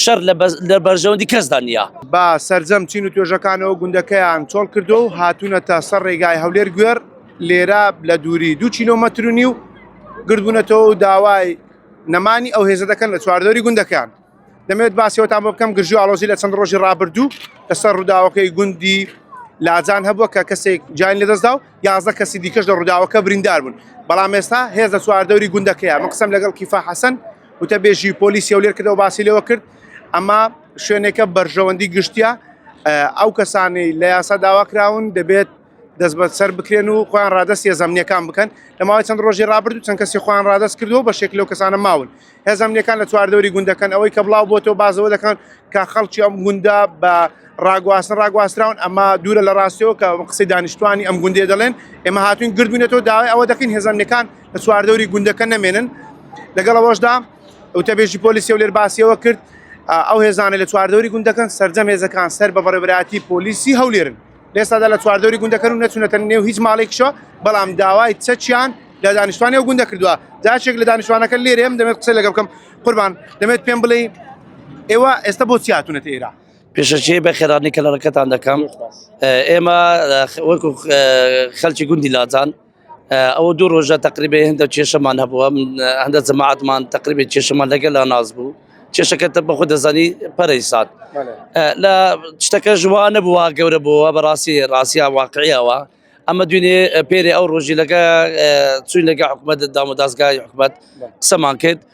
شەر لە بەرژەوەندی کەسدا نییە. بە سەرجەم چین و توێژەکانەوە گوندەکەیان چۆڵ کردووە و هاتوونەتە سەر ڕێگای هەولێر گوێڕ، لێرە لە دووری دوو کیلۆمەتر و نیو گردبوونەتەوە و داوای نەمانی ئەو هێزە دەکەن لە چواردەوری گوندەکەیان. دەمەوێت باسی ئەوەتان بۆ بکەم، گرژی و ئاڵۆزی لە چەند ڕۆژی ڕابردوو لەسەر ڕووداوەکەی گوندی لاجان هەبووە کە کەسێک گیانی لەدەستدا و یازدە کەسی دیکەش لە ڕووداوەکە بریندار بوون، بەڵام ئێستا هێز لە چواردەوری گوندەکەیە. من قسەم لەگەڵ کیفا حەسەن، وتەبێژی پۆلیسی هەولێر کردەوە باسی لەوە کرد ئەمە شوێنێکە بەرژەوەندی گشتیە ئەو کەسانی لە یاسا داواکراون دەبێت دەستبەت سەر بکرێن و خۆیان ڕادست هێزەمنیەکان بکەن لەماوەی چەند ڕۆژی ڕابردو چەند کەسی خۆیان ڕادست کردو بە شێک لەو کەسانە ماون هێزەمنیەکان لە چواردەوری گوندەکەن ئەوەی کە بڵاو بۆ تۆ بازەوە دەکەن کە خەڵکی ئەم گوندا بە ڕاگواستن ڕاگواستراون ئەمە دوورە لە ڕاستەوە کە قسەی دانیشتوانی ئەم گوندێ دەڵێن ئێمە هاتوین گردونێتەوە داوای ئەوە دەکەین هێزەمنیەکان لە چواردەوری گوندەکە نەمێنن لەگەڵ ئەوەشدا وتەبێژی پۆلیسی و لێر باسیەوە کرد ئەو هێزانە لە چواردەوری گوندەکەن سرجەم هێزەکان سەر بە بەڕێبراتی پۆلیسی هەولێرن لێسادا لە چواردەوری گوندەکەن و نەچونەتە نێو هیچ ماڵێکشە بەڵام داوای چەچیان لە دانیشتوانی و گوندە کردووە جاشێک لە دانیشتوانەکە لێرێم دەمێت قسە لەگە بکەم قوربان دەمێت پێم بڵێ ئێوە ئێستا بۆ چیاتونەت ئێرا پێشەچی بە خێرانی کە لە ڕکەتان دەکەم ئێمە وەکو خەلکی گوندی لاجان ئەوە دوو ڕۆژە تقریبێ هەندە کێشەمان هەبووە هەندە جەماعاتمان تقریبێ کێشەمان لەگەل لا ناز بوو کێشەکە تە بەخۆ دەزانی پەرەی سات لە شتەکە ژوا نەبووە گەورە بووە بەڕاستی ڕاستە واقعیەوە ئەمە دوێنێ پێری ئەو ڕۆژی لەگە چوین لەگە حکوومەت دامودازگای حکومەت قسەمان کرد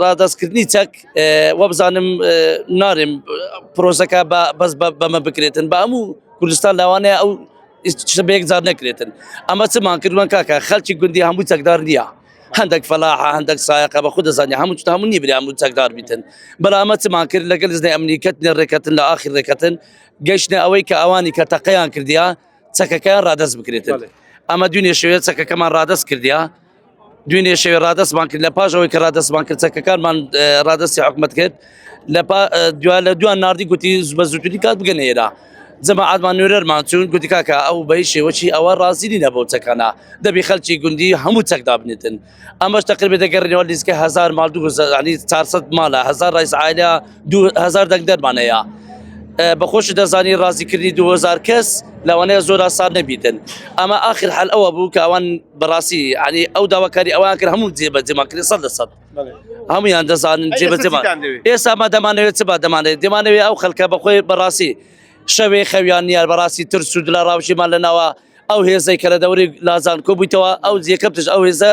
ڕادەستکردنی چەک وەبزانم نارێم پرۆسەکە بەس بەمە بکرێتن بە هەموو کوردستان لاوانەیە ئەو بەیەک جار نەکرێتن ئەمە چمان کردوان کاکە خەلکی گوندی هەموو چەکدار نییە هەندێک فەلاحە هەندێک سایەقە بە خود دەزانانی هەموو هەموو نی برا هەموو چەکدار بیتن بەڵامە چمان کرد لەگەل زنی ئەمنیکەت نێ ڕێکەتن لە ئاخی ڕێکەتن گەشتە ئەوەی کە ئەوانی کە تەقەیان کردیا چەکەکەیان ڕادەست بکرێتن ئەمە دونێ شوێت چەکەکەمان ڕادەست کردیا دوێنێ شەوێ ڕادستمان کرد لە پاش ئەوەی کە ڕادستمان کرد چەکەکانمان ڕادستی حکومت کرد لە دو لە دوان نردی گوتی بە زووتنی کات بگەن ئێرا جەماعاتمان نوێرەرمان چون گوتی کاکە ئەو بەی شێوەی ئەوە ڕازیری نەبوو چەکانە دەبی خەلکی گوندی هەموو چەکدا بنێتن ئەمەش تەقربێت دەگەڕێنەوە لیزگە هزار مال دوزانی 400 مالە هزار ڕیز عاە دوو هەزار دەنگ دەرمان هەیە بە خۆش دەزانی ڕازیکردنی 2000 کەس لەوانەیە زۆر ئاسان نەبیتن ئەمە آخر حل ئەوە بوو کە ئەوان بەڕاستی عنی ئەو داواکاری ئەوان کرد هەموو جێبە جێماکرێ سە لە سەد هەمویان دەزانن جێبە جێمان ئێستا ما دەمانەوێت چ با دەمانێت دەمانەوێت ئەو خەلکە بەخۆی بەڕاستی شەوێ خەویان نیار بەڕاستی تر سوود لە ڕاوشیمان لەناوە ئەو هێزەی کە لە دەوری لازان کۆبوویتەوە ئەو جێکەپتش ئەو هێزە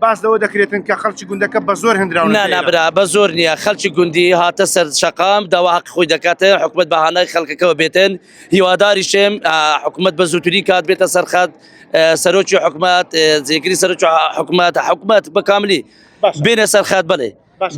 باس لەوە دەکرێتن کە خەڵکی گوندەکە بە زۆر هەندراون نابرا بە زۆر نییە خەلکی گوندی هاتە سەر شقام داوا حق خۆی دەکاتە حکومت بەهانای خەڵکەکەەوە بێتن هیواداری شێم حکومت بە زووتری کات بێتە سەرخەت سەرۆکی حکومت زیگری سەرۆکی حکومت حکومت بەکاملی بێنە سەرخەت بڵێ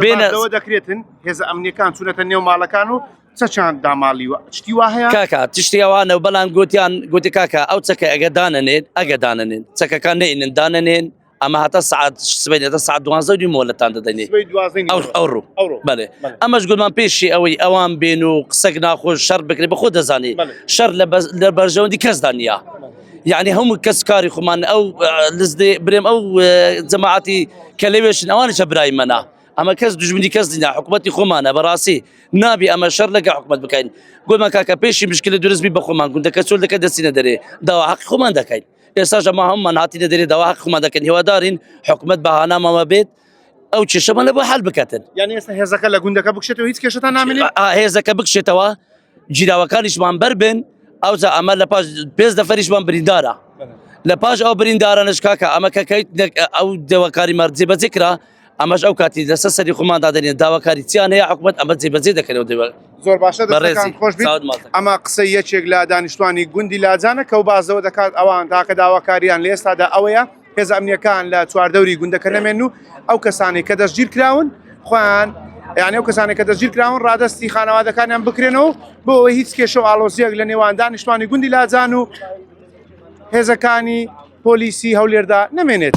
بێنەوە دەکرێتن هێزە ئەمنیەکان چونەتە نێو ماڵەکان و چەچان داماڵیوە شتی وا هەیە کاکە تشتیوانە و بەڵام گوتیان گوتی کاکە ئەو چەکە ئەگە دانەنێت ئەگە دانەنێن چەکەکان نینن دانەنێن ئەمە هاتە سعات سبێت دە سعات دوازە دی مۆلەتان دەدەنێ سبەی دوازدە ئەو نیوە. ئەو ڕوو ئەوڕۆ. بەێ بەڵێ. ئەمەش گومان پێشی ئەوەی ئەوان بێن و قسەک ناخۆش شەر بکرێت بە خۆ دەزانێت بەڵێ. شەر لە بەز- لە بەرژەوەندی کەسدا نییە یعنی هەموو کەس کاری خۆمان ئەو لزدێ برێم ئەو اه، جەماعەتی کە لەوێشن ئەوانیشە برای منە ئەمە کەس دژمنی کەس دینا حکوومەتتی خۆمانە بەڕاستی نابی ئەمە شەر لەگە حکوومەت بکەین گۆمان کاکە پێشی مشکلی درستبی بە خۆمان گوندە کە چۆل دەکە دەستینە دەرێ داوا حق خۆمان دەکەین ئێستا ژەما هەمومان هاتی دەدەێ داوا حق خۆمان دەکەن هێوادارین حکوومەت بەهانامەوە بێت ئەو کێشەمان لە بۆ حل بکاتن یان ئێستا هێزەکە لە گوندەکە بکشێتەوە هیچ کێشتان نامێنێت هێزەکە بکشێتەوە گیراوەکانیشمان بەر بن ئەوجا ئەمە لە پاش پێنج دەفەریشمان بریندارە لە پاش ئەو بریندارانش کاکە ئەمە کەکەیت ئەو دەوەکاری مەرجێ بەجێ کرا ئەمەش ئەو کاتی لەسەر سەری خۆمان دادێن داواکاری چیان هەیە حکوومەت ئەمە جێبەجێ دەکەنەوە دەوە زۆر باشە دەڕێزان خۆش ئەمە قسە یەکێک لە دانیشتوانی گوندی لاجانە کە و بازەوە دەکات ئەوان تاکە داواکاریان لە ئێستادا ئەوەیە هێزە ئەمنیەکان لە چواردەوری گوندەکە نەمێن و ئەو کەسانی کە دەستگیر کراون خۆیان یعنی ئەو کەسانی کە دەستگیر کراون ڕادستی خانەوادەکانیان بکرێنەوە بۆ ئەوەی هیچ کێشە و ئالۆزیەک لە نێوان دانیشتوانی گوندی لاجان و هێزەکانی پۆلیسی هەولێردا نەمێنێت.